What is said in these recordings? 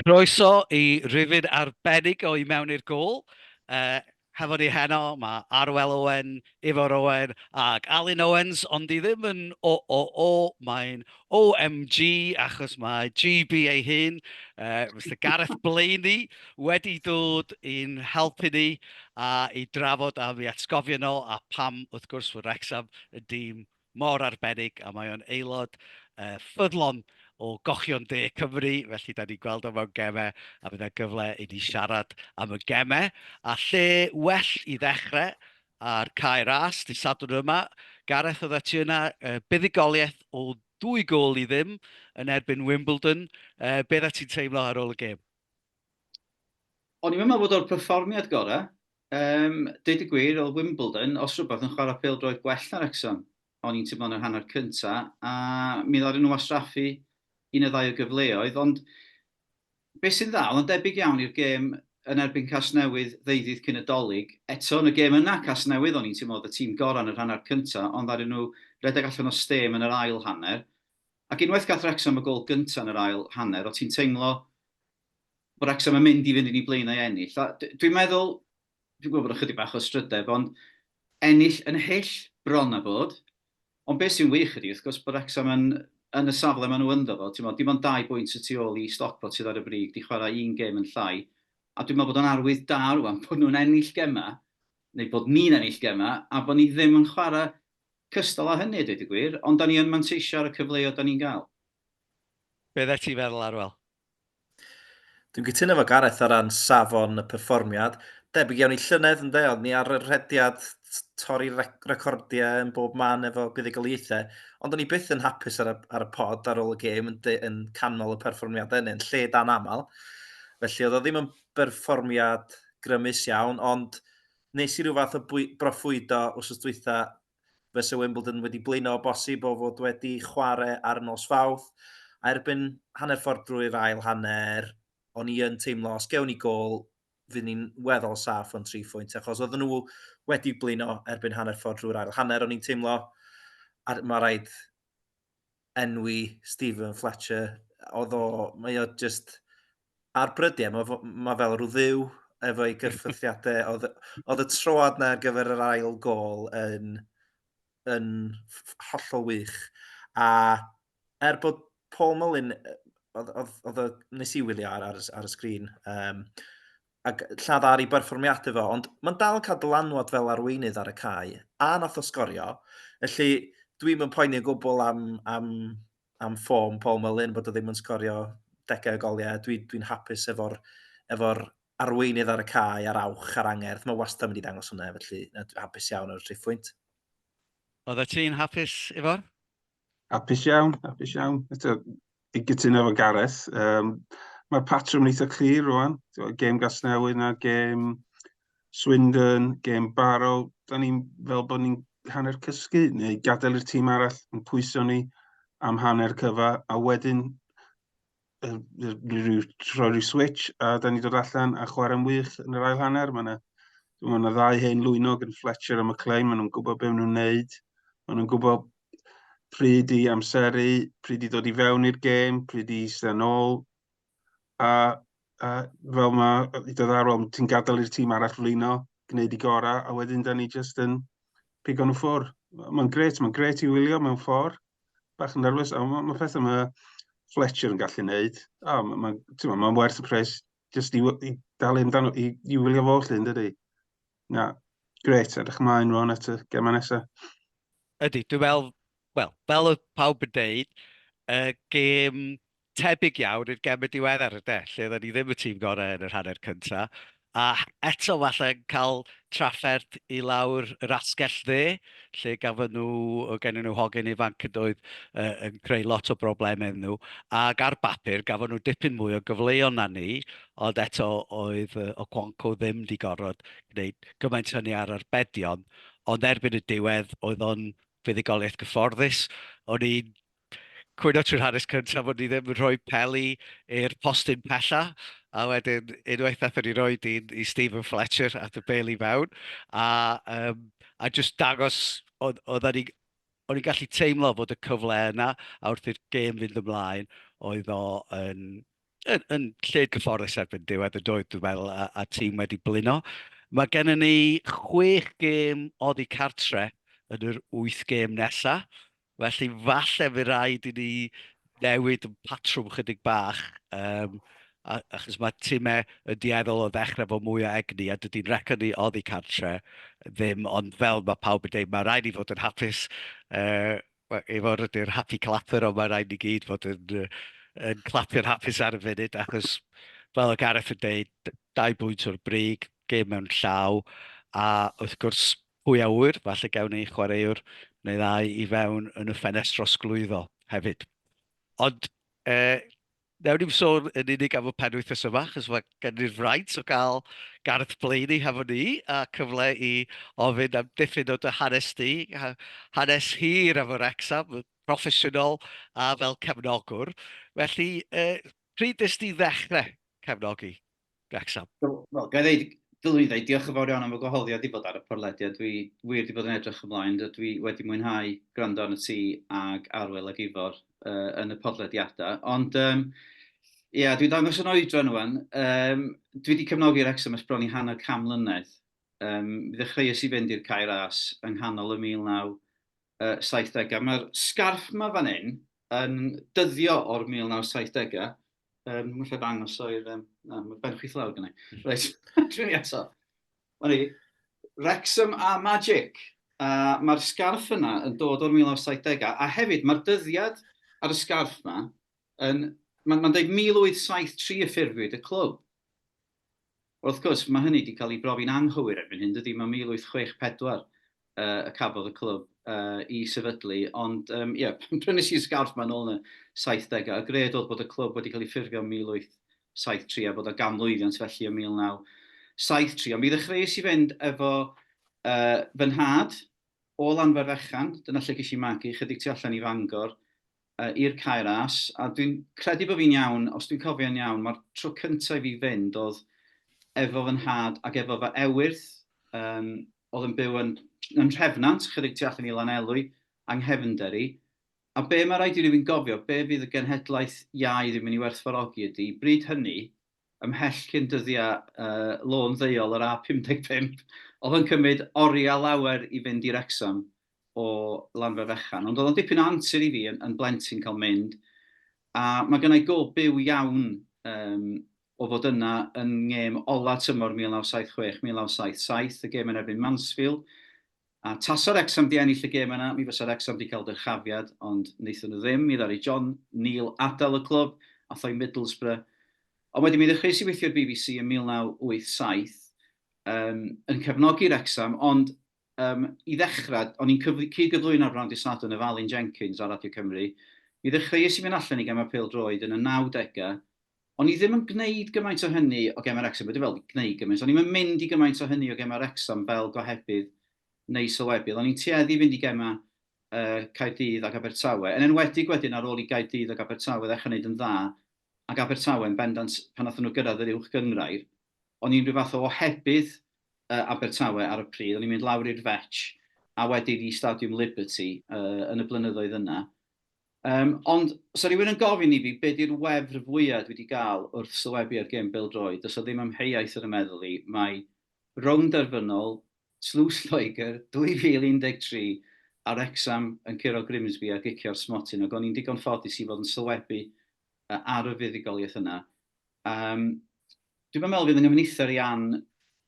Croeso i rifyn arbennig o I Mewn i'r Gôl. Yy, hefo ni heno, mae Arwel Owen, Ifor Owen ac Alun Owens, ond i ddim yn OOO, mae'n OMG, achos mae GB ei hun, yy, Mister Gareth Blayney, wedi dod i'n helpu ni a i drafod a mi atgofion o a pam, wrth gwrs, fod Wrecsam yn dîm mor arbennig a mae o'n aelod ffyddlon o Gochion De Cymru, felly dan ni'n gweld o mewn gemau a bydd 'na gyfle i ni siarad am y gemau. A lle well i ddechrau ar Cae Ras dydd Sadwrn yma, Gareth oeddet ti yna, buddugoliaeth o ddwy gôl i ddim yn erbyn Wimbledon, be oeddet ti'n teimlo ar ôl y gêm? O'n i'm yn meddwl bod o'r perfformiad gorau, Yym, deud y gwir, oedd Wimbledon, os rhywbeth, yn chwarae pêl-droed gwell na Wrecsam, o'n i'n teimlo yn yr hanner cynta, a mi ddaru nhw wastraffu un neu ddau o gyfleoedd, ond be sy'n dda, oedd o'n debyg iawn i'r gêm yn erbyn Casnewydd ddeuddydd cyn y Dolig, eto, yn y gêm yna, Casnewydd, o'n i'n teimlo oedd y tîm gorau yn yr hanner cynta, ond ddaru nhw redeg allan o stêm yn yr ail hanner, ac unwaith gath Wrecsam y gôl gynta yn yr ail hanner, o' ti'n teimlo Mae Wrecsam yn mynd i fynd yn ei blaenau ennill. A dwi'n meddwl, dwi'n gwybod bod ychydig bach o strydeb, ond ennill yn hyll bron a bod. Ond beth sy'n wych ydy, wrth gwrs, bod Wrecsam yn, yn y safle maen nhw ynddo fo, timo, dim ond dau bwynt y tu ôl i Stockport sydd ar y brig, di chwarae un gêm yn llai. A dwi'n meddwl bod o'n arwydd da rwan bod nhw'n ennill gemau, neu bod ni'n ennill gemau, a bod ni ddim yn chwarae cystal â hynny a dweud y gwir, ond da ni yn manteisio ar y cyfleoedd da ni'n gael. Be oeddet ti'n feddwl, Arwel? Dwi'n cytuno efo Gareth o ran safon y perfformiad. Debyg iawn i llynedd ynde, ond ni ar y rhediad torri recordiau yn bob man efo buddugoliaethau. Ond o'n i byth yn hapus ar y, ar y pod ar ôl y gêm yn, yn canmol y perfformiadau yn lle dan aml. Felly oedd o ddim yn berfformiad grymus iawn, ond nes i rhyw fath o bwy, broffwydo wrth dwytha fysa Wimbledon wedi blino o bosib o fod wedi chwarae ar y nos Fawrth, a erbyn hanner ffordd drwy'r ail hanner, o'n i yn teimlo os gewn ni gol, fydd ni'n weddol saff o'n tri phwynt, achos oedd nhw wedi blino erbyn hanner ffordd drwy'r ail hanner, o'n i'n teimlo, a mae rhaid enwi Stephen Fletcher, oedd o, mae o just ar brydiau, mae, mae fel rhyw ddiw efo'i gyrffythiadau. oedd, oedd y troad na ar gyfer yr ail gol yn, yn hollol wych. A er bod Paul Mullin oedd, oedd, oedd nes i wylio ar, ar, ar y sgrin. Um, a lladd ar ei berfformiad iddo, ond mae'n dal yn cael dylanwad fel arweinydd ar y cae, a nath o sgorio, felly dwi'm yn poeni o gwbl am, am, am ffom Paul Mullin, bod o ddim yn sgorio degau o goliau, dwi, dwi'n hapus efo'r efo arweinydd ar y cae a'r awch a'r angerdd, mae wastad mynd i ddangos hwnna, felly hapus iawn ar y triphwynt. Oeddet ti'n hapus efo'r? Apus iawn, apus iawn. Eto, i gytuno efo Gareth, um, mae'r patrwm yn eitha clir rwan. Gêm Gasnewydd na gêm Swindon, gêm Barrow. Da ni'n fel bod ni'n hanner cysgu neu gadael i'r tîm arall yn pwyso ni am hanner cyfa a wedyn rhyw, rhoi rhyw switch a da ni dod allan a chwarae'n wych yn yr ail hanner. Mae yna, mae yna ddau hen lwynog yn Fletcher a McLean, maen nhw'n gwybod beth nhw'n neud. Maen nhw'n gwybod pryd i amseru, pryd i ddod i fewn i'r gêm, pryd i eistedd ôl. A, a fel mae, i dod ar ôl, ti'n gadael i'r tîm arall flino, gwneud i gorau, a wedyn da ni jyst yn pigo nhw ffwr. Mae'n gret, mae'n gret i wylio mewn ffordd. bach yn nerfus. A mae ma pethau mae Fletcher yn gallu neud. A mae'n ma, ma, ma werth y pres jyst i, i dalu amdano, i, i wylio fo lle yn dydy. Na, gret, edrych ymlaen rwan at y gemau nesaf. Ydy, dwi'n meddwl, wel, fel y pawb yn deud, y gêm Tebyg iawn i'r gem yn diweddar de, lle oedden ni ddim y tîm gorau yn yr hanner cynta, a eto falle yn cael trafferth i lawr yr asgell dde, lle gafon nhw, oedd gennyn nhw hogyn ifanc yn doedd, yn creu lot o broblemau iddyn nhw, ac ar bapur gafon nhw dipyn mwy o gyfleon na ni, ond eto oedd Okonkwo ddim wedi gorfod gwneud gymaint hynny ar arbedion, ond erbyn y diwedd oedd o'n fuddugoliaeth gyfforddus, o'n i'n Cwyno trwy'r hanes cyntaf o'n i ddim yn rhoi peli i'r postyn pella, a wedyn unwaith nathon ni roi dyn i Stephen Fletcher at y beli fewn, a, um, a just dangos, oedd, oedd ni, o'n i'n gallu teimlo fod y cyfle yna, a wrth i'r gêm fynd ymlaen, oedd o yn, yn, yn lle gyfforddus erbyn diwedd y doedd, dwi'n meddwl, a, a tîm wedi blino. Mae gennym ni chwech gêm oddi cartre yn yr wyth gêm nesaf, Felly, falle fy rhaid i ni newid yn patrwm chydig bach, um, achos mae timau yn dueddol o ddechrau fo mwy o egni, a dydy'n record ni oddi cartre ddim, ond fel mae pawb yn dweud, mae rhaid i fod yn hapus, uh, efo'r ydy'r happy clapper, ond mae rhaid ni gyd fod yn, yn clapio'n hapus ar y funud, achos fel o Gareth yn dweud, dau bwynt o'r brig, gêm mewn llaw, a wrth gwrs, Pwy a ŵyr, falle gewn ni chwaraewr neu ddau i fewn yn y ffenest drosglwyddo hefyd. Ond e, newn ni'n sôn yn unig am y penwythnos yma, chos mae gen i'r fraint o gael Gareth Blaney hefo ni, a cyfle i ofyn am diffyn o dy hanes di, hanes hir efo Wrexham, proffesiynol a fel cefnogwr. Felly, e, pryd nes di ddechrau cefnogi Wrecsam. Wel, gael ei ddeud, dylwn i ddeud, diolch yn fawr iawn am y gwahoddiad i fod ar y porlediad. Dwi wir wedi bod yn edrych ymlaen, dwi wedi mwynhau gwrando arno ti ag Arwel ag Ifor uh, yn y podlediadau. Ond, um, Ie, yeah, dwi'n dangos yn oedran nhw'n. Um, dwi wedi cefnogi Wrexham ysbron i hanner cam mlynedd. Um, mi ddechreuais i fynd i'r Caer As yng nghanol y 1970au. Mae'r sgarff yma fan hyn yn dyddio o'r 1970au. Um, Mae'n lle dangos o'r... Um, na, mae ben chwith lawr gynnau. Hmm. Reit, dwi'n ni eto. O'n i, Wrexham a Magic. A mae'r sgarff yna yn dod o'r 1970au. A hefyd, mae'r dyddiad ar y sgarff yma, yn, mae'n ma dweud 1873 y ffurfwyd y clwb. Wrth gwrs, mae hynny 'di cael ei brofi'n anghywir erbyn hyn, dydi? Mae 1864 y cafodd y clwb i sefydlu, ond ie, pan brynais i'r sgarff 'ma nôl yn y saithdegau, y gred oedd bod y clwb wedi cael ei ffurfio yn 1873 a bod o ganmlwyddiant felly yn 1973. Ond mi ddechreuais i fynd efo fy nhad o Lanfairfechan, dyna lle ges i magu, 'chydig tu allan i Fangor, i'r cae ras, a dwi'n credu bod fi'n iawn, os dwi'n cofio'n iawn, mae'r tro cyntaf i fi fynd oedd efo fy nhad ac efo fy ewyrth, um, oedd yn byw yn, yn Rhefnant, chydig tu allan i Lanelwy, a nghefnder i. A be mae rhaid i rywun gofio, be fydd y genhedlaeth iau ddim yn ei werthfawrogi ydy, bryd hynny, ymhell cyn dyddiau uh, lôn ddeuol yr A55, oedd yn cymryd oriau lawer i fynd i Rexham, o Lanfa Fechan, ond oedd o'n dipyn o antur i fi yn, yn blentyn cael mynd, a mae gennau gof byw iawn um, o fod yna yn ngêm ola tymor 1976-1977, y gêm yn erbyn Mansfield, a tasa'r Exam di ennill y gêm yna, mi fysa'r Exam di cael dyrchafiad, ond wnaethon nhw ddim, mi ddari John Neil adael y clwb, a thoi Middlesbrough, Ond wedyn mi ddechreuais i weithio i'r BBC yn 1987 um, yn cefnogi Wrexham, ond Yym, i ddechrau, o'n i'n cyfl- cyd-gyflwyno bron dydd Sadwrn efo Alun Jenkins ar Radio Cymru. I ddechrau, es i fynd allan i gemau pêl-droed yn y 90au. O'n i ddim yn gwneud gymaint o hynny o gemau Wrecsam, be dwi feddwl, gwneud gymaint, o'n i'm yn mynd i gymaint o hynny o gemau Wrecsam fel gohebydd neu sylwebydd. O'n i'n tueddu i fynd i gemau yy Caerdydd ac Abertawe, yn enwedig wedyn ar ôl i Gaerdydd ac Abertawe ddechrau wneud yn dda, ac Abertawe yn bendant pan wnaethon nhw gyrraedd yr Uwch Gynghrair. o'n i'n rhyw fath o ohebydd yy Abertawe ar y pryd, o'n i'n mynd lawr i'r Fetch a wedyn i Stadiwm Liberty yy yn y blynyddoedd yna. Um, ond, os rhywun yn gofyn i fi be di'r wefr fwyaf dwi wedi gael wrth sylwebu ar gêm bêl-droed, does o ddim amheuaeth yn y meddwl i, mae rownd derfynol Tlws Lloegr 2013 a Wrecsam yn curo Grimsby a gicio'r smotyn, ac o'n i'n digon ffodus i fod yn sylwebu ar y fuddugoliaeth yna. Um, Dwi'n meddwl fydd yn ymwneithio i Ann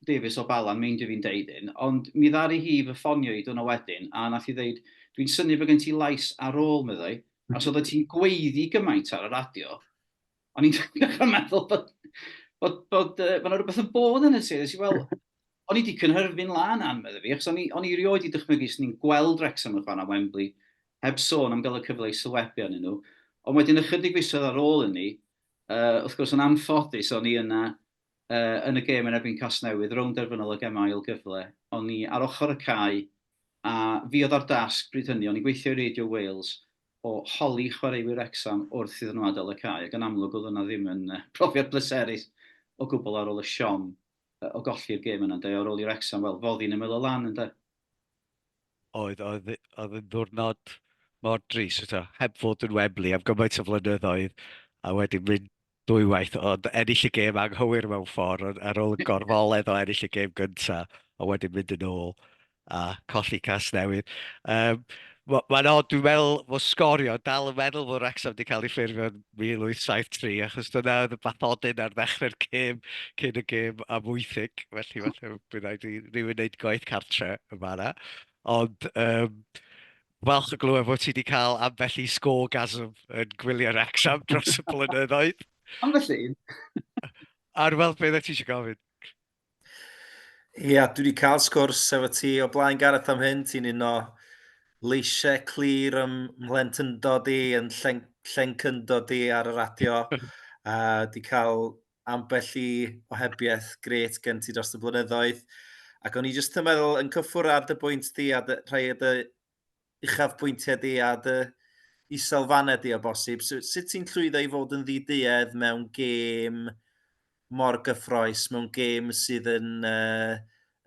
Davies o Bala, meind i fi'n deud un, ond mi ddari hi fy ffonio i dwna wedyn, a nath i ddeud, dwi'n syni bod gen ti lais ar ôl, meddai, a so oeddet ti'n gweiddi gymaint ar y radio, o'n i'n dechrau meddwl bod, bod, bod, uh, bod rhywbeth yn bod yn y ti, nes i, wel, o'n i wedi cynhyrfu'n lan an, meddai fi, achos o'n i, on i rioed i dychmygu sy'n ni'n gweld Wrexham yn chwan am Wembley, heb sôn am gael y cyfle i sylwebu arnyn nhw, ond wedyn ychydig fisoedd ar ôl hynny, wrth gwrs yn anffodus o'n i yna yn y gêm yn erbyn Casnewydd, rownd derfynol o gemau ail gyfle, o'n i ar ochr y cae a fi oedd â'r dasg bryd hynny, o'n i'n gweithio i Radio Wales, o holi chwaraewyr Wrecsam wrth iddyn nhw adael y cae, ac yn amlwg oedd hwnna ddim yn brofiad pleserus o gwbl ar ôl y siom o golli'r gêm yna ynde, ar ôl i Wrecsam, wel, foddi'n ymyl y lan ynde. oedd, oedd, oedd yn ddwrnod mor dris, so, heb fod yn Wembley am gymaint o flynyddoedd, a wedyn mynd dwywaith, ond ennill y gêm anghywir mewn ffordd, ar ôl y gorfoledd o ennill y gêm gyntaf, a wedyn mynd yn ôl a colli cas newydd. Um, Mae'n od, dwi'n meddwl fod sgorio, dal yn meddwl fod Wrexham wedi cael ei ffurfio'n 1873, achos dyna oedd y bathodyn ar ddechrau'r gêm, cyn y gêm am wythig, felly falle bydd rhaid i rywun wneud gwaith cartre yn fanna. Ond um, falch o glywed bod ti wedi cael ambell i sgorgasm yn gwylio Wrexham dros y blynyddoedd. Ambell un. Ar weld beth ti eisiau gofyn. Ia, dwi 'di cael sgwrs efo ti o blaen Gareth am hyn, ti'n un o leisiau clir ym mhlentyndod i, yn llen, llencyndod i ar y radio. a di cael ambell i ohebiaeth gret gen ti dros y blynyddoedd. Ac o'n i jyst yn meddwl, yn cyffwr ar dy bwynt di a dy, rhai o dy uchafbwyntiau di a dy iselfannau di o bosib. So, sut ti'n llwyddo i fod yn ddiduedd mewn gêm mor gyffroes, mewn gêm sydd yn, uh,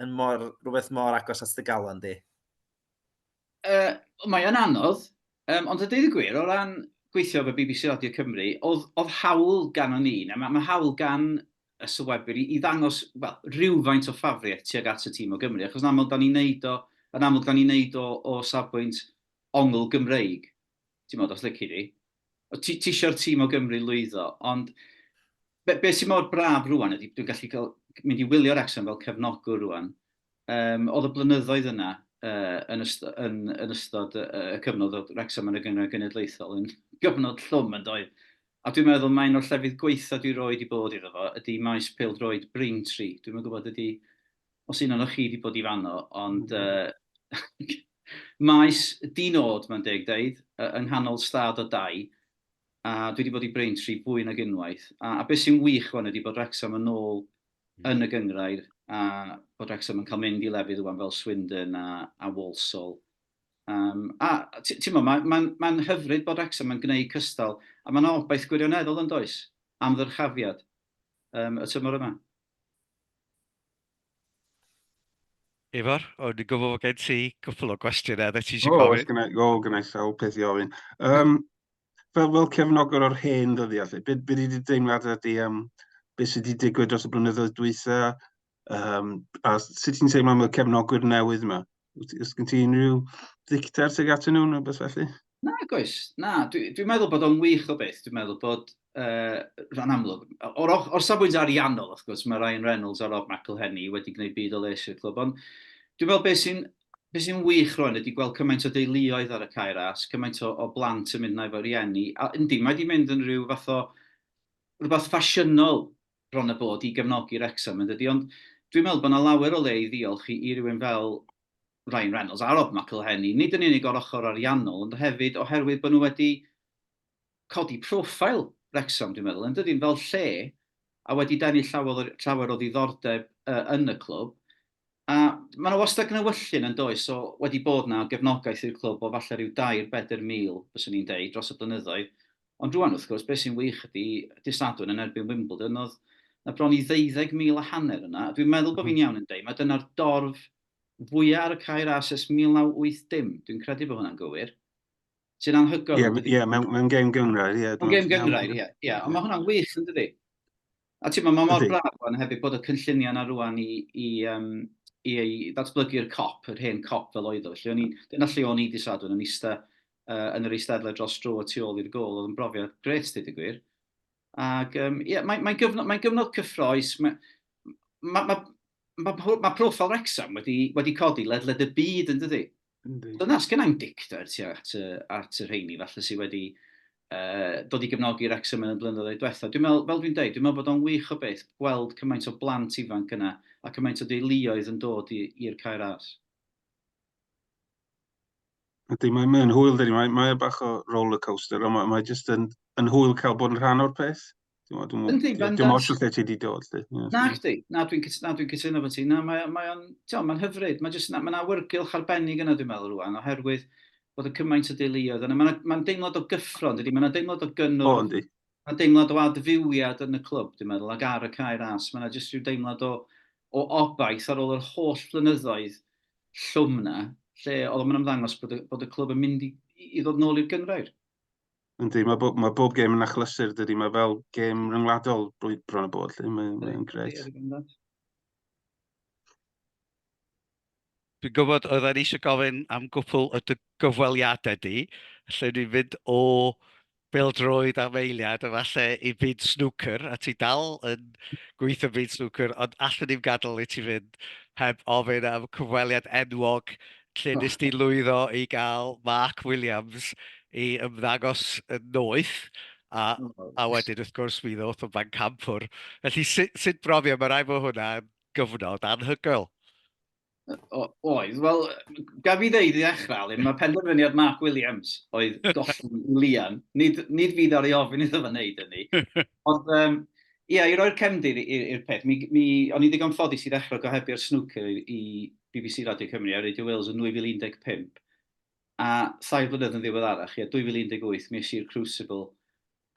yn mor, rhywbeth mor agos at dy galon di? Uh, mae o'n anodd, um, ond y dweud y gwir, o ran gweithio fe BBC Radio Cymru, oedd, oedd hawl gan o'n un, a mae, mae hawl gan y sylwebwyr i, i ddangos well, rhywfaint o ffafriaeth tuag at y tîm o Gymru, achos yn amlwg da ni'n neud o, yn amlwg da ni'n neud o o safbwynt ongl Gymreig, ti'n modd os lyci di. Ti eisiau'r tîm o Gymru lwyddo, ond be, be sy'n mor braf rwan ydy, dwi'n gallu cael, mynd i wylio Wrexham fel cefnogwr rwan, um, oedd y blynyddoedd yna uh, yn, ystod, yn, yn ystod y, y cyfnod oedd Wrexham yn y gyngor genedlaethol yn gyfnod llwm yn doedd. A dwi'n meddwl mae un o'r llefydd gwaetha dwi roed i bod iddo fo ydi maes pêl-droed Braintree. Dwi'm yn gwybod ydi os un onoch chi di bod i fanno ond yy maes di-nod mae'n deg deud yy yng nghanol stad o dai a dwi di bod i Braintree fwy nag unwaith a a be sy'n wych ŵan ydi bod Wrecsam yn ôl yn y gynghrair a bod Wrecsam yn cael mynd i lefydd ŵan fel Swindon a a Walsall Um, a ti'n mo, mae'n ma, ma hyfryd bod Wrexham yn gwneud cystal, a mae'n obaith gwirioneddol yn does am ddyrchafiad um, y tymor yma. Ifor, o'n i'n gwybod bod gen ti cwpl o gwestiynau dda ti eisiau gofyn. O, oes gynnau, o, gynnau sawl peth i ofyn. Um, fel, fel cefnogwr o'r hen ddyddiau, lle, beth byd wedi deimlad ydy am um, beth sydd wedi digwydd dros y blynyddoedd dwytha, Um, a sut ti'n teimlo am y cefnogwyr newydd yma? Ys gen ti unrhyw ddicter tuag atyn nhw neu beth felly? Na, goes. Na, dwi'n dwi meddwl bod o'n wych o beth. Dwi'n meddwl bod uh, rhan amlwg. O'r, or safbwynt ariannol, wrth gwrs, mae Ryan Reynolds a Rob McElhenney wedi gwneud byd o les i'r clwb, ond dwi'n meddwl beth sy'n be sy'n wych rwan ydy gweld cymaint o deuluoedd ar y cair as, cymaint o, o blant yn mynd na efo rieni. A yndi, mae wedi mynd yn rhyw fath o rhywbeth ffasiynol bron a bod i gefnogi Wrecsam yn dydi ond dwi'n meddwl bod yna lawer o le i ddiolch i rywun fel Ryan Reynolds a Rob McElhenney, nid yn unig o'r ochr ariannol ond hefyd oherwydd bod nhw wedi codi profile Wrecsam dwi'n meddwl yn dydi, fel lle a wedi denu llawer o ddiddordeb yn y clwb A mae yna wastad gnewyllyn yn does, so wedi bod yna o gefnogaeth i'r clwb o falle rhyw dair, bedr mil, fyswn i'n deud, dros y blynyddoedd. Ond rwan, wrth gwrs, beth sy'n wych ydy, dydd Sadwrn yn erbyn Wimbledon, oedd na bron i ddeuddeg mil a hanner yna, a dwi'n meddwl bod fi'n iawn yn deud, mae dyna'r dorf fwyaf ar y cae ras ers 1980, dwi'n credu bod hwnna'n gywir, sy'n anhygoel. Ie, yeah, yeah, mewn, mewn gêm gyngrair, ie. Yeah, mewn gêm gyngrair, ie. Yeah, yeah. Ond mae hwnna'n wych, yn dydi? A ti'n ma, mae mor braf o'n hefyd bod y cynlluniau yna rwan i, i, um, i, i ddatblygu'r cop, yr hen cop fel oedd o. Felly, dyna lle o'n i di sadwn, yn eista uh, yn yr eisteddle dros dro y tu ôl i'r gol, oedd yn brofiad gret, dyd y gwir. Ac, um, yeah, mae'n mae gyfnod, mae gyfnod cyffroes, mae, mae, mae, mae, mae proffil Wrexham wedi, wedi codi ledled y byd yn dydy. Yndi. Dyna, sgynna i'm dicter ti at, at y rheini falle sydd wedi uh, dod i gefnogi Wrexham yn y blynyddoedd diwetha. Dwi'n meddwl, fel dwi'n dweud, dwi'n meddwl bod o'n wych o beth gweld cymaint o blant ifanc yna a cymaint o deuluoedd yn dod i'r cair ars. Ydy, mae'n mae hwyl, dydy. Mae, mae bach o roller coaster, ond mae, mae jyst yn, yn hwyl cael bod yn rhan o'r peth. Yndi, bendant. Dim ots lle ti wedi dod. Na, chdi. Na, dwi'n dwi cytuno fo ti. Na, mae'n mae o'n, ti'n mae'n hyfryd. Mae'n just, mae'n awyrgylch arbennig yna, dwi'n meddwl, rwan, oherwydd bod y cymaint o deuluoedd yna. Mae'n ma deimlad o gyffro, ynddi, dydy? Mae'n deimlad o gynnwrf. O, ynddi. Mae'n deimlad o adfywiad yn y clwb, dwi'n meddwl, ac ar y cae ras. Mae'n just rhyw deimlad o, o obaith ar ôl yr holl flynyddoedd llwm na, lle oedd o'n ymddangos bod y, bod y clwb yn mynd i, i ddod nôl i'r gyngrair. Yndi, mae bob, mae bob gêm yn achlysur, dydy. Mae fel gêm ryngwladol blwydd bron y bod, lle mae'n mae greit. Dwi'n gwybod, oedd e'n eisiau gofyn am gwpl o dy gyfweliadau di, lle ni'n mynd o bildroed am eiliad, efallai i byd snwcer, a ti dal yn gweithio byd snwcer, ond allwn ni'n gadael i ti fynd heb ofyn am cyfweliad enwog lle oh. nes di lwyddo i gael Mark Williams i ymddangos yn noeth, a, oh. a wedyn wrth gwrs mi ddoth o fan campwr. Felly sut, sut brofio, mae rai fo hwnna gyfnod anhygoel. Oedd, wel, gaf i ddeud i ddechrau, Alun, mae penderfyniad Mark Williams oedd golli Lian. Nid, nid fi ddari ofyn iddo fe wneud hynny. Ond, um, Ie, i roi'r cefndir i'r peth, mi, mi, o'n i'n ddigon ffodus i ddechrau gohebio'r snwcer i, i BBC Radio Cymru a Radio Wales yn 2015, a thair blynedd yn ddiweddarach, ie, 2018, mi i'r Crucible,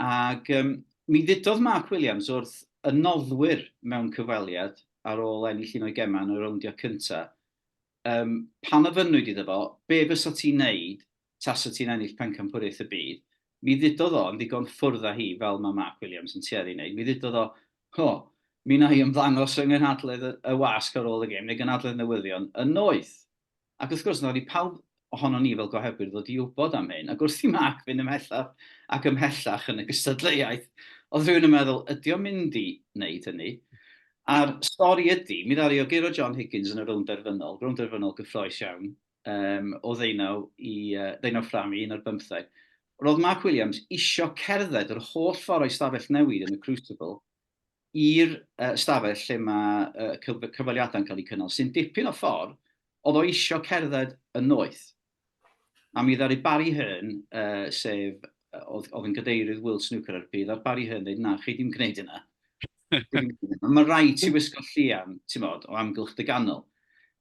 ac um, mi ddudodd Mark Williams wrth y noddwyr mewn cyfweliad ar ôl ennill un o'i gemau yn y rowndiau cyntaf, um, pan ofynnwyd iddo fo, be fysa ti'n neud tasat ti'n ennill pencampwriaeth y byd, mi ddudodd o, yn ddigon ffwrdd â hi, fel mae Mark Williams yn tueddu i wneud, mi ddudodd o, O, mi wna i ymddangos fy nghynhadledd y wasg ar ôl y gêm, neu gynhadledd newyddion, yn noeth. Ac wrth gwrs, wnawn ni pawb ohonon ni fel gohebwyr ddod i wybod am hyn, ac wrth i Mark fynd ymhellach ac ymhellach yn y gystadleuaeth, oedd rhywun yn meddwl, ydy o'n mynd i wneud hynny? A'r stori ydy, mi ddaru o guro John Higgins yn y rownd derfynol, rownd derfynol gyffroes iawn, um, o ddeunaw i uh, ddeunaw ffram i un o'r bymtheg. Roedd Mark Williams isio cerdded yr holl ffordd o'i stafell newid yn y Crucible i'r uh, stafell lle mae uh, cyfaliadau'n cael eu cynnal, sy'n dipyn o ffordd, oedd o isio cerdded y noeth. A mi ddaru Barry Hearn, uh, sef oedd, oedd yn gadeirydd World Snooker ar y pryd, ar Barry Hearn dweud, na, chi ddim gwneud yna. Mae'n rhaid ti wisgo llian, ti'n modd, o amgylch dy ganol.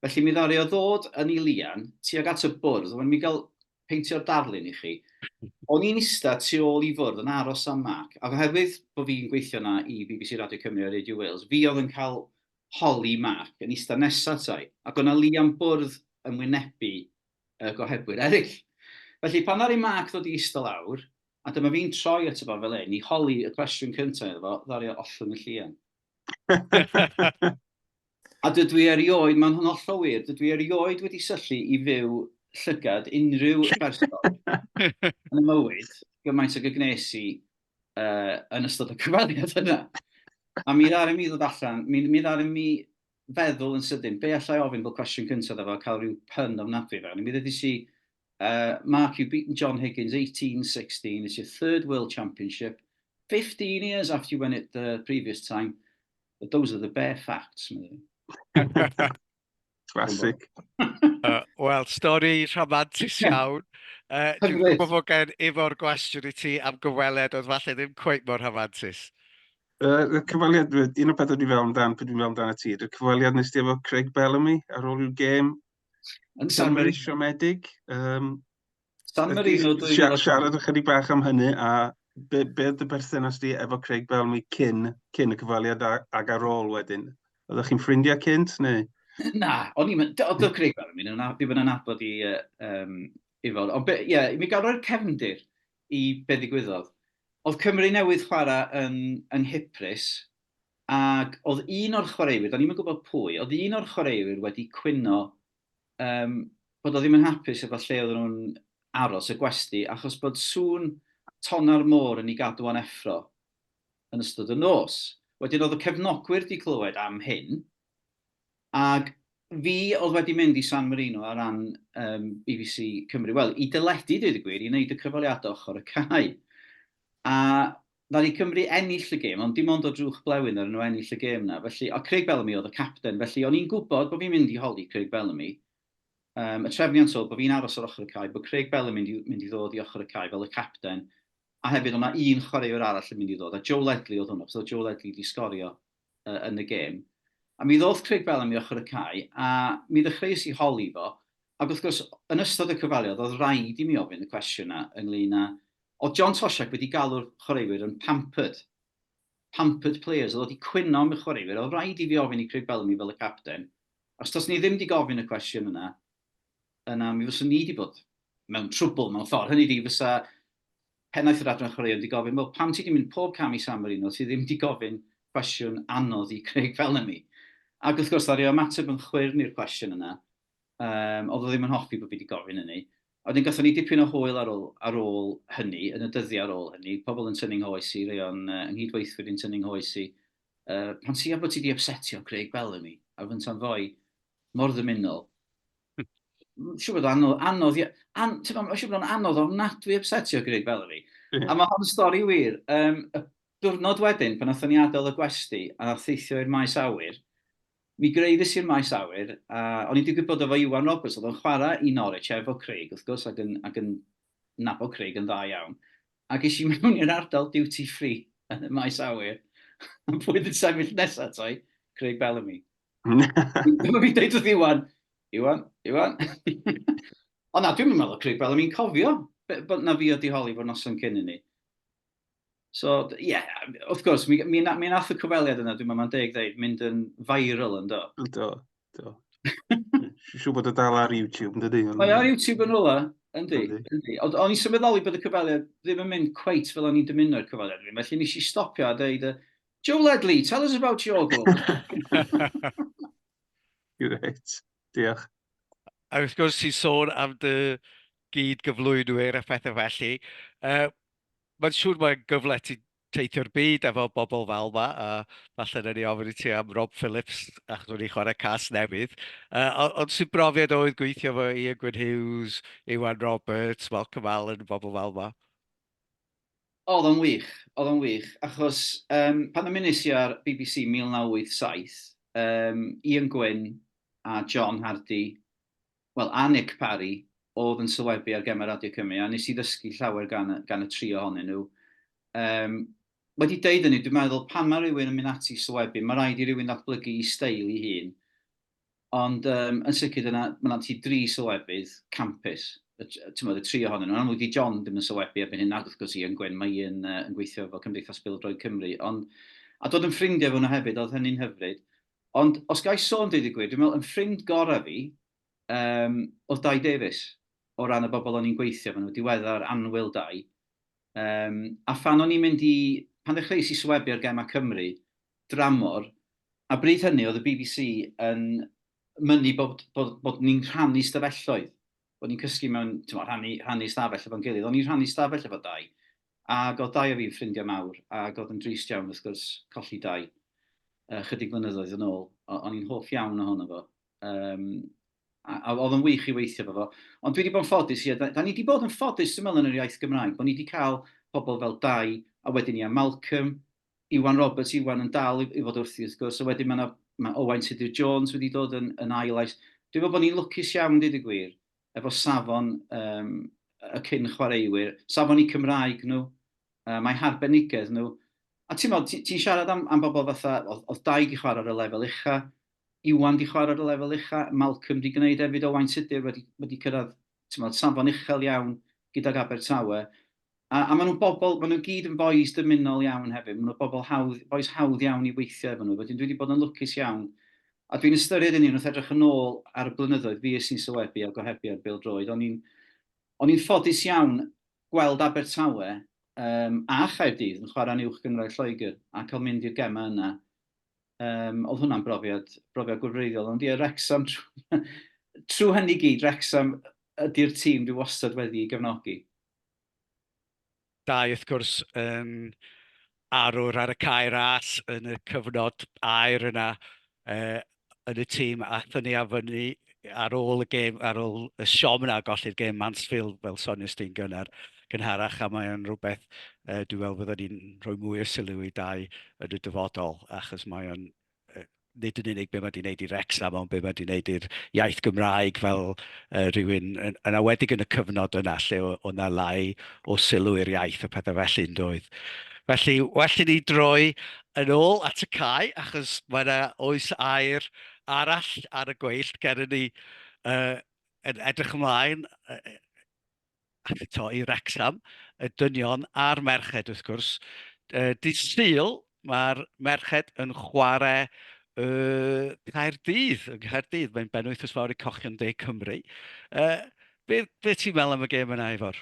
Felly mi ddaru o ddod yn ei lian, tuag at y bwrdd, wan mi gael peintio'r darlun i chi. O'n i'n ista tu ôl i fwrdd yn aros am Mark, ac oherwydd bod fi'n gweithio na i bbc Radio Cymru a Radio Wales, fi oedd yn cael holi Mark yn ista nesa atai, ac o'na lian bwrdd yn wynebu y gohebwyr eraill. Felly, pan ddaru Mark ddod i ista lawr, a dyma fi'n troi ato fo fel hyn i holi y cwestiwn cyntaf iddo fo, ddaru o ollwng y llian. A dydw i erioed, mae'n hollol wir, dydw i erioed wedi syllu i fyw llygad unrhyw berson yn y mywyd gymaint ag y gwnes i yn ystod y cyfweliad yna. A mi ddaru mi ddod allan, mi, mi ddaru mi feddwl yn sydyn, be allai ofyn fel cwestiwn cyntaf efo cael rhyw pun ofnadwy fewn i. Mi ddedis i, uh, Mark, you've beaten John Higgins 18-16, it's your third World Championship, 15 years after you won it the previous time, but those are the bare facts. Classic. uh, Wel, stori rhamantus iawn. Uh, Dwi'n gwybod fod gen efo'r gwestiwn i ti am gyfweled, oedd falle ddim cweith mor rhamantus. Uh, y cyfaliad, un o beth dwi'n fewn dan, pryd dwi'n fewn dan y ti, y cyfaliad nes ti efo Craig Bellamy ar ôl i'w gêm yn San Marino. Siomedig. Um, San Marino. Siarad ychydig bach am hynny a be, be dy berthynas di efo Craig Bellamy cyn, cyn y cyfaliad ag ar ôl wedyn? Oeddech chi'n ffrindiau cynt neu? Na, o'n i'n mynd, oedd Craig Bellamy, ddim yn anabod i, um, i fod. Ond ie, yeah, mi gael rhoi'r cefndir i be ddigwyddodd. Oedd Cymru newydd chwarae yn yng Nghyprus ac oedd un o'r chwaraewyr, do'n i'm yn gwybod pwy, oedd un o'r chwaraewyr wedi cwyno um, bod o ddim yn hapus efo lle oedd nhw'n aros y gwesti achos bod sŵn tona'r môr yn ei gadw o'n effro yn ystod y nos. Wedyn oedd y cefnogwyr wedi clywed am hyn Ac fi oedd wedi mynd i San Marino ar ran yym bbc Cymru, wel, i deledu, dweud y gwir, i wneud y cyfweliadau ochr y cae. A ddaru Cymru ennill y gêm, ond dim ond o drwch blewyn ddaru nhw ennill y gêm 'na. Felly, a Craig Bellamy oedd y capten, felly o'n i'n gwybod bod fi'n mynd i holi Craig Bellamy. Yym, y trefniant oedd bod fi'n aros ar ochr y cae, bod Craig Bellamy mynd i, mynd i ddod i ochr y cae fel y capten, a hefyd oedd 'na un chwaraewr arall yn mynd i ddod, a Joe Ledley oedd hwnnw, achos oedd Joe Ledley wedi sgorio uh, yn y gêm. A mi ddodd Craig Bellamy i ochr y cae, a mi ddechreuais i holi fo, ac wrth gwrs, yn ystod y cyfweliad, oedd rhaid i mi ofyn y cwestiwn yna ynglyn â... Oedd John Tosiak wedi galw'r chwaraewyr yn pampered, pampered players, oedd wedi cwyno am y chwaraewyr, oedd rhaid i fi ofyn i Craig Bellamy fel y capten, os dos ni ddim wedi gofyn y cwestiwn yna, yna mi fyswn ni wedi bod mewn trwbl mewn ffordd. Hynny di, fysa Pennaeth yr Adran Chwaraeon 'di gofyn, wel pam ti 'di mynd pob cam i San Marino, ti ddim 'di gofyn cwestiwn anodd i Craig Bellamy? Ac wrth gwrs, ddaru o ymateb yn chwyrn i'r cwestiwn yna, yym, o'dd o ddim yn hoffi bo' fi 'di gofyn hynny. A wedyn gathon ni dipyn o hwyl ar ôl ar ôl hynny, yn y dyddia' ar ôl hynny, pobl yn tynnu 'nghoes i, rei o'n yy 'y nghyd-weithwyr i'n tynnu 'nghoes i, yy, pan ti am bo' ti 'di ypsetio Craig Bellamy? A fynta'n foi, mor ddymunol, siw bod o'n anodd, anodd, an, ti'n meddwl, siw bod o'n anodd o'n nadwy upsetio Greg Valerie. Yeah. A mae hon stori wir. Um, y diwrnod wedyn, pan nathon ni adael y gwesti a theithio i'r maes awyr, mi greiddes i'r maes awyr, a o'n i'n digwydd bod efo Iwan Roberts, oedd o'n chwarae i Norwich efo Craig, wrth gwrs, ac yn, ac yn nabod Craig yn dda iawn, ac es i mewn i'r ardal duty free yn y maes awyr, a pwy oedd yn sefyll nesaf ato i? Craig Bellamy. Dyma fi'n dweud wrth Iwan, Iwan, Iwan. Ond na, dwi'n meddwl Craig Bellamy'n cofio bod na fi o diholi fod noson cyn i ni. So, ie, yeah, wrth gwrs, mi, mi, na, mi nath y cyfweliad yna, dwi'n meddwl, mae'n deg ddeud, mynd yn viral yn do. Do, do. Siw bod y dal ar YouTube, yn dydy? Mae ar YouTube yn rola, yndi. Ond o'n i'n symudoli bod y cyfweliad ddim yn mynd cweit fel o'n i'n dymuno i'r cyfweliad ddim. Felly nes i stopio a dweud, Joe Ledley, tell us about your goal. Great, diolch. A wrth gwrs, ti'n sôn am dy gyd gyflwynwyr a phethau felly. Uh, mae'n siŵr mae'n gyfle ti teithio'r byd efo bobl fel yma, a falle na ni ofyn i ti am Rob Phillips ac nhw'n ei chwarae cas newydd. Uh, ond sy'n brofiad oedd gweithio efo Ian Gwyn Hughes, Iwan Roberts, Malcolm Allen, bobl fel yma? Oedd o'n wych, oedd o'n wych, achos um, pan ymunes i ar BBC 1987, um, Ian Gwyn a John Hardy Wel, a Nick Parry oedd yn sylwebu ar gemau Radio Cymru, a nes i ddysgu llawer gan y, gan y tri ohonyn nhw. Um, wedi deud hynny, dwi'n meddwl pan mae rhywun yn mynd ati sylwebu, mae rhaid i rywun ddatblygu i steil i hun. Ond um, yn sicr dyna, mae yna ti dri sylwebydd campus, y, y tri ohonyn nhw. Yn amlwg di John ddim yn sylwebu erbyn hyn, nad wrth gwrs i yn Gwyn, mae i'n uh, yn gweithio fel Cymdeithas Bildroed Cymru. Ond, a dod yn ffrindiau fo nhw hefyd, oedd hynny'n hyfryd. Ond os ga i sôn deud y gwir, dwi'n meddwl yn ffrind gorau fi um, oedd Dai Davies, o ran y bobl o'n i'n gweithio fan nhw, diweddar anwyl Dai. Um, a phan o'n i'n mynd i, pan ddechreuais i swebu ar Gemau Cymru, dramor, a bryd hynny oedd y BBC yn mynnu bod, bod, bod ni'n rhannu stafelloedd, bod ni'n cysgu mewn, ti'n rhannu, rhannu stafell efo'n gilydd, o'n i'n rhannu stafell efo Dai. Ac oedd dau o fi'n ffrindiau mawr, ac oedd yn drist iawn wrth gwrs colli dau yy chydig flynyddoedd yn ôl, o- o'n i'n hoff iawn ohono fo. Yym, a, a oedd o'n wych i weithio efo fo. Ond dwi wedi bod yn ffodus, ie, da, da ni wedi bod yn ffodus dwi'n meddwl yn yr iaith Gymraeg, bod ni wedi cael pobl fel Dai, a wedyn ia, Malcolm, Iwan Roberts, Iwan yn dal i, i fod wrthi wrth gwrs, a wedyn mae yna mae Owain Tudur Jones wedi dod yn, yn ail ais. Dwi'n meddwl bod ni'n lwcus iawn, dweud y gwir, efo safon um, y cyn chwaraewyr, safon i Cymraeg nhw, uh, mae harbenigedd nhw. A ti'n meddwl, ti'n ti siarad am, am bobl fatha, oedd, oedd dau di chwarae ar y lefel ucha, Iwan di chwarae ar y lefel ucha, Malcolm di gwneud efyd o Wain Tudur wedi, wedi cyrraedd meddwl, safon uchel iawn gydag Abertawe. A, a maen nhw'n bobl, maen nhw gyd yn bois dymunol iawn hefyd, maen nhw'n bobl hawdd, bois hawdd iawn i weithio efo nhw, wedyn dwi wedi bod yn lwcus iawn, a dwi'n ystyried hynny wrth edrych yn ôl ar y blynyddoedd fues i'n sylwebu a gohebu ar bêl-droed, o'n i'n, o'n i'n ffodus iawn gweld Abertawe um, a Chaerdydd yn chwarae'n uwch gynghrair Lloegr a cael mynd i'r gemau yna. Um, oedd hwnna'n brofiad, brofiad gwrfreiddiol, ond ie, Wrexham, trwy hynny gyd, Wrexham ydy'r tîm dwi wastad wedi i gefnogi. Dau, wrth gwrs, yn arwr ar y cae ras yn y cyfnod aer yna uh, yn y tîm a thynnu a fyny ar ôl y gêm, ar ôl y siom yna, golli'r gêm Mansfield fel sonius di'n gynnar, gynharach, a mae'n rhywbeth uh, dwi'n meddwl fyddwn ni'n rhoi mwy o sylw i dau yn y dyfodol, achos mae'n nid yn unig be mae 'di wneud i Wrecsam, ond be mae 'di wneud i'r iaith Gymraeg fel uh, rhywun, yn, yn awedig yn y cyfnod yna lle o 'na lai o sylw i'r iaith a pethau felly yn doedd. Felly, well i ni droi yn ôl at y cae, achos mae yna oes air arall ar y gweill ger ni uh, yn edrych ymlaen uh, eto i Wrecsam, y dynion a'r merched wrth gwrs. Yy dydd Sul mae'r merched yn chwarae y Caerdydd, yng Nghaerdydd, mae'n benwythnos fawr i Cochion De Cymru. Yy be be ti'n meddwl am y gêm yna Ifor?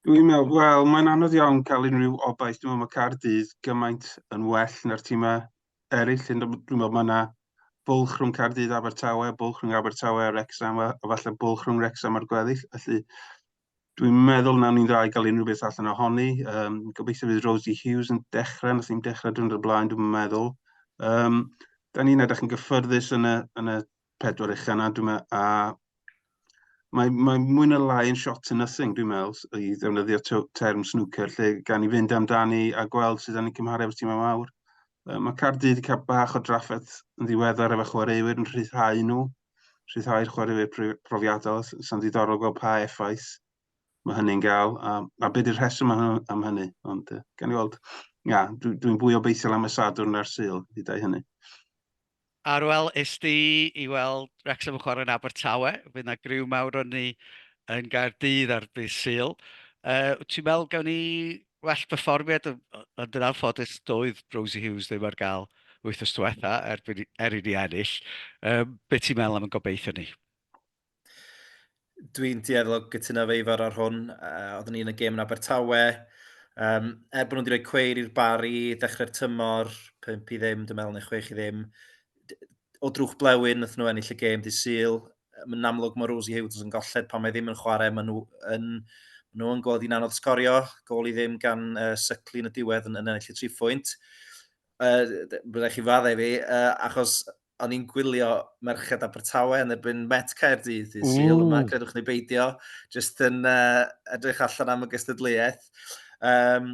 Dwi'n meddwl, wel, mae'n anodd iawn cael unrhyw obaith. Dwi'n meddwl mae Caerdydd gymaint yn well na'r tîmau eraill, dwi'n meddwl mae yna bwlch rhwng Caerdydd a Abertawe, bwlch rhwng Abertawe a Wrexham, a falle bwlch rhwng Wrexham a'r gweddill. Felly, dwi'n meddwl na ni'n dda i gael unrhyw beth allan ohoni. Um, gobeithio fydd Rosie Hughes yn dechrau, nath i'n dechrau dwi'n y blaen, dwi'n meddwl. Um, da ni'n edrych yn gyffyrddus yn y, yn y pedwar eich yna, dwi'n meddwl, a mae, mae mwy na lai yn shot to nothing, dwi'n meddwl, i ddefnyddio term snwcer, lle gan i fynd amdani a gweld sydd yn ei cymharu efo'r tîmau mawr. Mae Cardydd wedi cael bach o drafferth yn ddiweddar efo chwaraewyr yn rhyddhau nhw, rhyddhau'r chwaraewyr profiadol, sy'n ddiddorol gweld pa effaith mae hynny'n gael, a, a beth yw'r rheswm am hynny, ond gan i weld, ia, dwi'n dwi, dwi fwy obeithiol am y sadwrn na'r syl, hydau hynny. Ar ôl ist i i weld Wrecsam yn chwarae yn Abertawe, fydd 'na griw mawr o ni yn Gaerdydd ar ddydd Sul. Wyt ti'n meddwl gawn ni well perfformiad? Ond yn anffodus, doedd Rosie Hughes ddim ar gael wythnos diwetha' erbyn i er i ni ennill. Be ti'n meddwl am ein gobeithion ni? Dwi'n dueddol o gytuno efo Ifor ar hwn. Uh, oeddwn ni yn y gêm yn Abertawe. Um, er bod nhw wedi rhoi cweir i'r bari, dechrau'r tymor, 5 i ddim, dwi'n meddwl, neu 6 i ddim. O drwch blewyn, nath nhw ennill y gêm di syl. Mae'n amlwg mae Rosie Hughes yn golled pan mae ddim yn chwarae. Mae nhw yn, maen nhw yn gweld i'n anodd sgorio. Gol i ddim gan uh, Sycli yn y diwedd yn, yn ennill y tri phwynt. Uh, Byddai chi fadde fi, uh, achos o'n i'n gwylio Merched Abertawe yn erbyn Met Caerdydd i syl yma, credwch ni beidio, jyst yn uh, edrych allan am y gystadleuaeth. Um,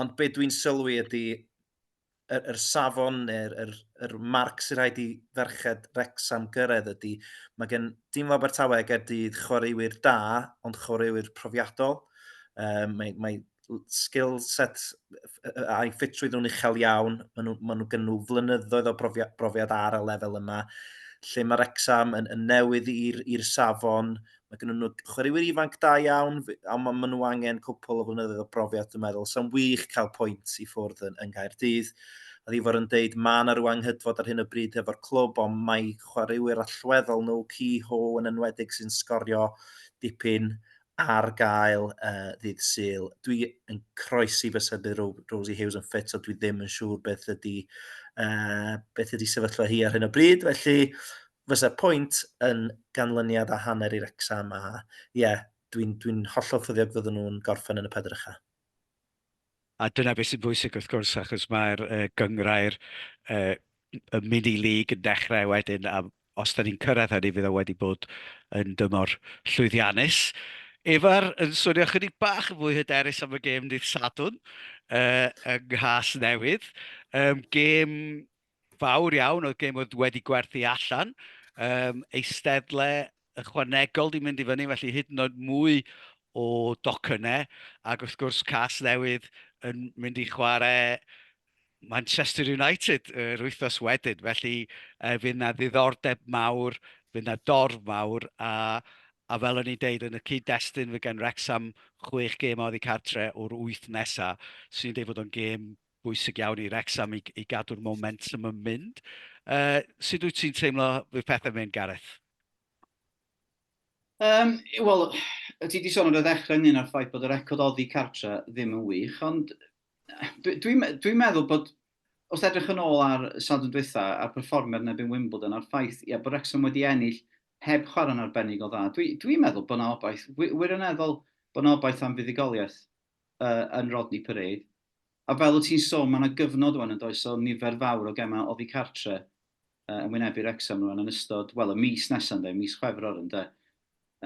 ond be dwi'n sylwi ydy yr, er, er safon neu'r er, er marc sy'n rhaid i ferched Rexham gyrraedd ydy, mae gen dim o Abertawe a Gerdydd chwaraewyr da, ond chwaraewyr profiadol. Um, mae, mae skill set a'i ffitrwydd nhw'n uchel iawn. Maen nhw, ma nhw gen nhw flynyddoedd o brofiad, brofiad ar y lefel yma, lle mae'r exam yn, yn newydd i'r safon. Mae gen nhw chwaraewyr ifanc da iawn, ond maen ma nhw angen cwpl o flynyddoedd o brofiad, dwi'n meddwl. Sa'n wych cael pwynt i ffwrdd yn, yn Gaerdydd. A ddi fod yn deud, mae yna rhyw anghydfod ar hyn o bryd efo'r clwb, ond mae chwaraewyr allweddol nhw, Ki Ho yn enwedig sy'n sgorio dipyn ar gael uh, ddydd Sul. Dwi yn croesi fy sybu Rosie Hughes yn ffit, so dwi ddim yn siŵr beth ydy, uh, beth ydy sefyllfa hi ar hyn o bryd. Felly, fysa pwynt yn ganlyniad a hanner i'r exam a ie, yeah, dwi'n dwi hollol ffyddiog fydden nhw'n gorffen yn y pedrycha. A dyna beth sy'n bwysig wrth gwrs, achos mae'r uh, gyngrair uh, y mini lig yn dechrau wedyn, a os da ni'n cyrraedd hynny, fydd o wedi bod yn dymor llwyddiannus. Efa'r yn swnio chydig bach yn fwy hyderus am y gêm dydd Sadwn uh, yng Nghas Newydd. Um, gêm fawr iawn oedd gen fod wedi gwerthu allan, um, eisteddle ychwanegol di mynd i fyny, felly hyd yn oed mwy o docynnau, ac wrth gwrs cas newydd yn mynd i chwarae Manchester United yr uh, wythnos wedyn, felly uh, fydd yna ddiddordeb mawr, fydd yna dorf mawr, a, a fel o'n i'n deud, yn y cyd-destun fe gan Rexham chwech gêm oddi cartre o'r wyth nesaf, sy'n deud bod o'n gêm bwysig iawn i Wrecsam i i gadw'r momentum yn mynd. Uh, sut wyt ti'n teimlo fydd pethau'n mynd, Gareth? Um, Wel, ti wedi sôn ar y ddechrau ynglyn â'r ffaith bod y record oddi cartre ddim yn wych, ond dwi'n dwi, dwi meddwl bod os edrych yn ôl ar sadwn dwytha a'r perfformiad nebyn Wimbledon a'r ffaith ia, bod Wrexham wedi ennill heb chwarae'n arbennig o dda, dwi'n dwi meddwl bod yna obaith wir, wirioneddol bod yna obaith am fuddugoliaeth yy yn Rodney Parade. A fel wyt ti'n sôn, mae yna gyfnod rwan yn does o nifer fawr o gemau oddi cartre uh, yn wynebu Wrexham rwan yn ystod, wel, y mis nesaf yn de, mis Chwefror yn de.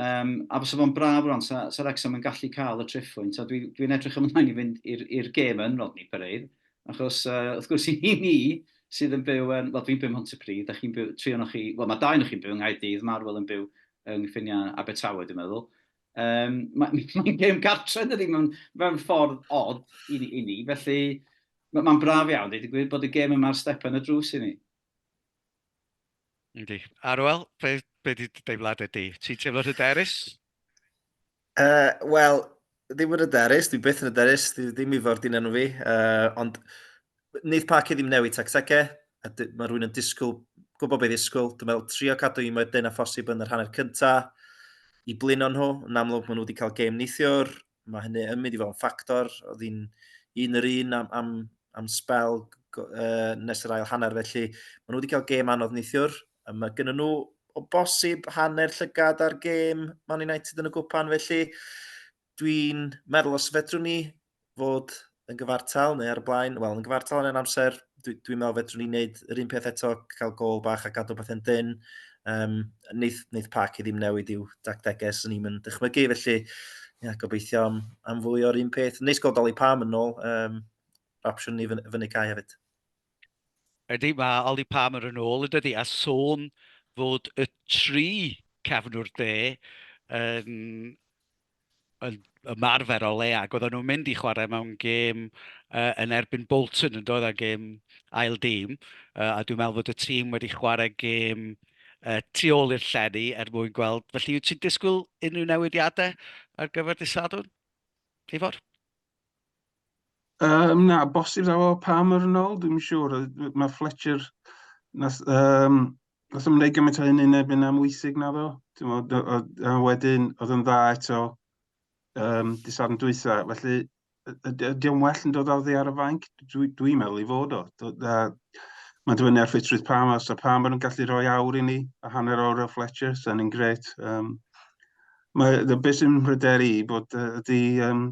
Um, a fysa fo'n braf rwan, sa, sa Wrexham yn gallu cael y treffwynt, a dwi'n dwi, dwi edrych ymlaen i fynd i'r gêm yn Rodney Parade, achos uh, wrth gwrs i ni, ni sydd yn byw yn, wel dwi'n byw yn Montepridd, a chi'n byw, tri o'n chi, wel mae dau o'n chi'n byw yng Nghaerdydd, Marwel yn byw yng Nghyffiniau Abertawe dwi'n meddwl, Um, Mae'n ma gêm gartre dydy, mae'n ma ffordd odd i ni, i ni felly mae'n ma braf iawn, dweud y gwir, bod y gêm yma'r step yn y drws i ni. Yndi. Arwel, be, be di deimladau di? Ti'n teimlo'n hyderus? Uh, Wel, ddim yn hyderus, dwi byth yn hyderus, dwi ddim i ffordd di'n enw fi, uh, ond Wneith Parky ddim newid tactege, a mae rhywun yn disgwyl, gwybod beth ddisgwyl. Dwi'n meddwl trio cadw un mwy dyn a phosib yn yr hanner cynta i blino nhw. Yn amlwg maen nhw wedi cael gêm neithiwr, mae hynny yn mynd i fod yn ffactor. Oedd hi'n un yr un am, am, am spel uh, nes yr ail hanner, felly maen nhw wedi cael gêm anodd neithiwr. Mae gen nhw o bosib hanner llygad ar gêm Man United yn y gwpan, felly dwi'n meddwl os fedrwn ni fod yn gyfartal neu ar y blaen, wel, yn gyfartal yn ein amser, dwi'n dwi meddwl fedrwn ni wneud yr un peth eto, cael gol bach a gadw bethau'n dyn. Um, neith, neith Park i ddim newid i'w dactegau, sy'n ni'n mynd dychmygu, felly ia, gobeithio am, am fwy o'r un peth. Neis gweld Oli Pam yn ôl, um, opsiwn ni fyny cae hefyd. Ydy, mae Ollie Palmer yn ôl yn dydy, a sôn fod y tri cefnwr de yn, yn ymarfer o le ac oedden nhw'n mynd i chwarae mewn gêm uh, yn erbyn Bolton yn dod â gêm ail dîm uh, a dwi'n meddwl fod y tîm wedi chwarae gêm uh, tu ôl i'r llenni er mwyn gweld. Felly, wyt ti'n disgwyl unrhyw newidiadau ar gyfer dydd Sadwrn? Ifor? Yym, na, bosib ddaw o pa mor yn ôl, dwi'n siŵr. Mae Fletcher, nath, um, nath ymwneud gymaint o hyn yn ebyn am wysig na ddo. A wedyn, oedd yn dda eto um, disarn dwytha. Felly, ydy o'n well yn dod ar ddi ar y fainc? Dwi'n dwi meddwl i fod o. Mae'n dibynnu ar ffitrwydd Pam, os da Pam yn gallu rhoi awr i ni, a hanner awr o Fletcher, sy'n ni'n gret. Um, Mae y beth sy'n mhryderu i bod uh, ydy um,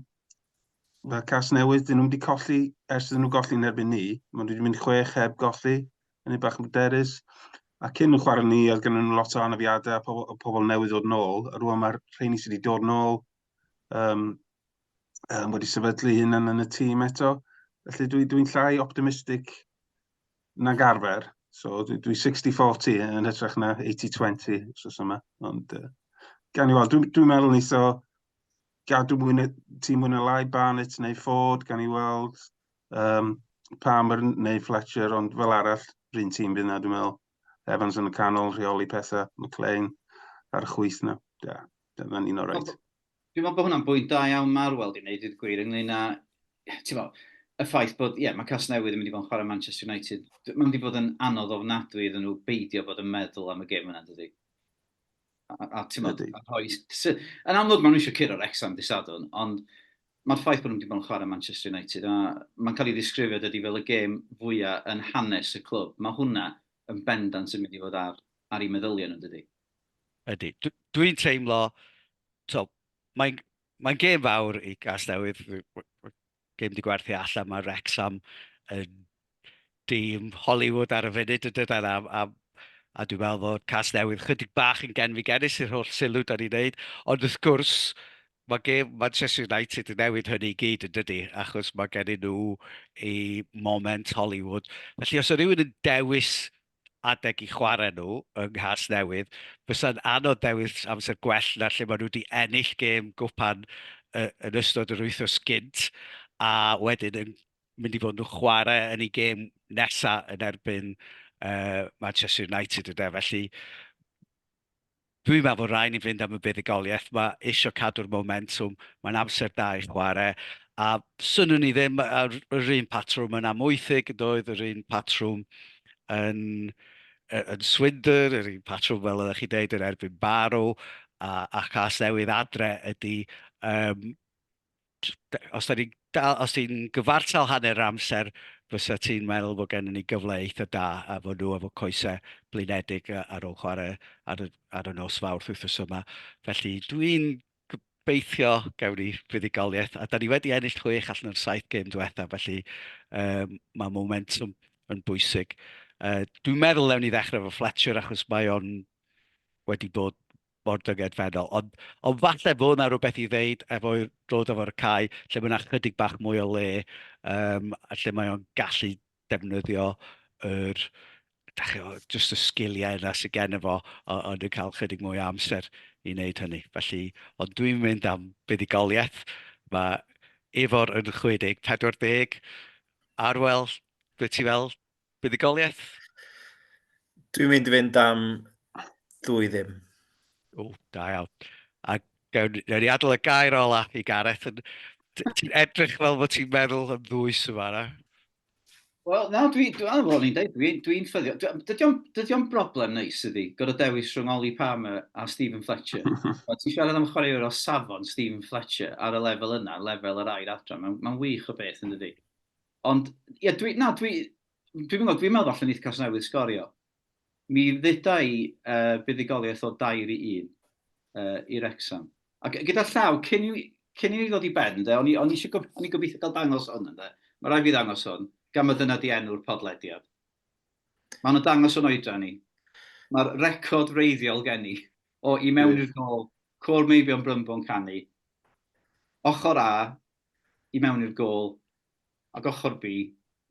mae cas newydd, dyn nhw'n wedi colli ers dyn nhw golli yn erbyn ni. Mae nhw wedi mynd chwech heb golli, yn ei bach yn bryderus. A cyn nhw chwarae ni, oedd gen nhw lot o anafiadau a pobl, a pobl newydd ddod nôl. A rwan mae'r rheini sydd wedi dod nôl um, um, wedi sefydlu hyn yn y tîm eto. Felly dwi'n dwi, dwi llai optimistig nag arfer. So dwi, dwi 60-40 yn hytrach na 80-20 os yma. Ond uh, gan i weld, dwi'n dwi meddwl nes o gadw mwy na, ti mwy na lai Barnett neu Ford, gan i weld um, Palmer neu Fletcher, ond fel arall, rhywun tîm fydd na, dwi'n meddwl. Evans yn y canol, rheoli pethau, McLean ar y chwyth na. Da, da, da ni'n o'r rhaid. Dwi'n meddwl bod hwnna'n bwynt da iawn ma'r weld i wneud, dweud y gwir, ynglyn â, ti'n meddwl, y ffaith bod, ie, mae Casnewydd yn mynd i fod yn chwarae Manchester United. Mae'n mynd i fod yn anodd ofnadwy iddyn nhw beidio bod yn meddwl am y gêm yna, dydy? A, a ti'n meddwl, a rhoi... Yn amlwg, maen nhw eisiau curo Rexham dy sadwn, ond mae'r ffaith bod nhw'n mynd i fod yn chwarae Manchester United, a mae'n cael ei ddisgrifio dydy fel y gêm fwyaf yn hanes y clwb. Mae hwnna yn bendant yn mynd i fod ar, ar ei meddyliau nhw, dydy? Ydy. Dwi'n teimlo, tibod, mae'n mae'n gêm fawr i Gasnewydd. Gêm 'di gwerthu allan, mae Wrecsam yn dîm Hollywood ar y funud yn dyden, a a a dwi'n meddwl fod Casnewydd chydig bach yn genfigennus i'r holl sylw dan ni'n wneud, ond wrth gwrs, mae gêm Manchester United yn newid hynny i gyd yn dydy, achos mae gen nhw i moment Hollywood. Felly os o rhywun yn dewis adeg i chwarae nhw yng Nghasnewydd, fysa'n anodd dewis amser gwell na lle maen nhw wedi ennill gêm gwpan yn ystod yr wythnos gynt a wedyn yn mynd i fod nhw'n chwarae yn eu gêm nesaf yn erbyn Manchester United ynde, felly Dwi'n meddwl fod rhaid ni fynd am y buddugoliaeth 'ma, isio cadw'r momentwm, mae'n amser da i chwarae, a 'swnwn i ddim ar yr un patrwm yn Amwythig yn doedd, yr un patrwm yn yy yn Swindon, yr un patrwm fel oeddech chi'n deud yn erbyn Barrow, a a Chasnewydd adre ydi yym os dan ni'n dal... os ti'n gyfartal hanner yr amser, fysa ti'n meddwl bod gennym ni gyfle eitha da a fod nhw efo coesau blinedig ar ôl chwarae ar y ar y nos Fawrth wythnos yma. Felly dwi'n gobeithio gawn ni fuddugoliaeth, a dan ni wedi ennill chwech allan o'r saith gêm diwetha, felly yy ma' momentum yn bwysig. Yy dwi'n meddwl wnewn ni ddechrau efo Fletcher achos mae o'n wedi bod mor dyngedfennol. Ond, ond falle fod yna rhywbeth i ddeud efo dod efo ar y cae lle mae yna chydig bach mwy o le um, a lle mae o'n gallu defnyddio yr, da chi, just y sgiliau yna sydd gen efo, ond yn cael chydig mwy o amser i wneud hynny. Felly, ond dwi'n mynd am buddugoliaeth. Mae Ifor yn 60, 40, Arwel, beth ti fel? Buddugoliaeth? Dwi'n mynd i fynd am ddwy ddim. O, da iawn. A gawn ni adael y gair ola i Gareth. Ti'n edrych fel bod ti'n meddwl am ddwys yma, na? Wel, na, dwi'n dwi, dwi, dwi, dwi, dwi, dwi ffyddio. Dydy o'n broblem neis ydi, gorau dewis rhwng Oli Palmer a Stephen Fletcher. Mae ti'n siarad am chwaraewr o safon Stephen Fletcher ar y lefel yna, lefel yr air adran. Mae'n ma wych o beth yn dydy. Ond, ie, dwi, na, dwi, dwi'n meddwl, dwi'n meddwl allan Nithcas newydd sgorio. Mi ddyda i uh, buddugoliaeth o dair i un uh, i Rexham. A gyda llaw, cyn i, cyn i ni ddod i ben, de, o'n i, on i eisiau gof, on i gobeithio cael dangos hwn, de. Mae rai fi ddangos hwn, gan mae dyna di enw'r podlediad. Mae hwn yn dangos o'n oedran ni. Mae'r record reiddiol gen i o i mewn i'r gol, cwr meibion brymbo'n canu, ochr A, i mewn i'r gol, ac ochr bi,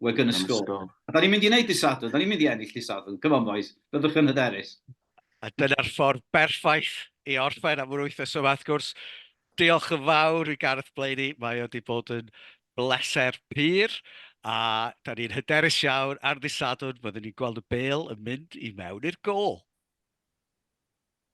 Wigan a sgôr. A da ni'n mynd i wneud dydd Sadwrn, da ni'n mynd i ennill dydd Sadwrn, come on boys, byddwch yn hyderus. A dyna'r ffordd berffaith i orffen am yr wythnos yma wrth gwrs. Diolch yn fawr i Gareth Blaney, mae o wedi bod yn bleser pur, a da ni'n hyderus iawn ar ddydd Sadwrn, fyddwn ni'n gweld y bêl yn mynd i mewn i'r gôl.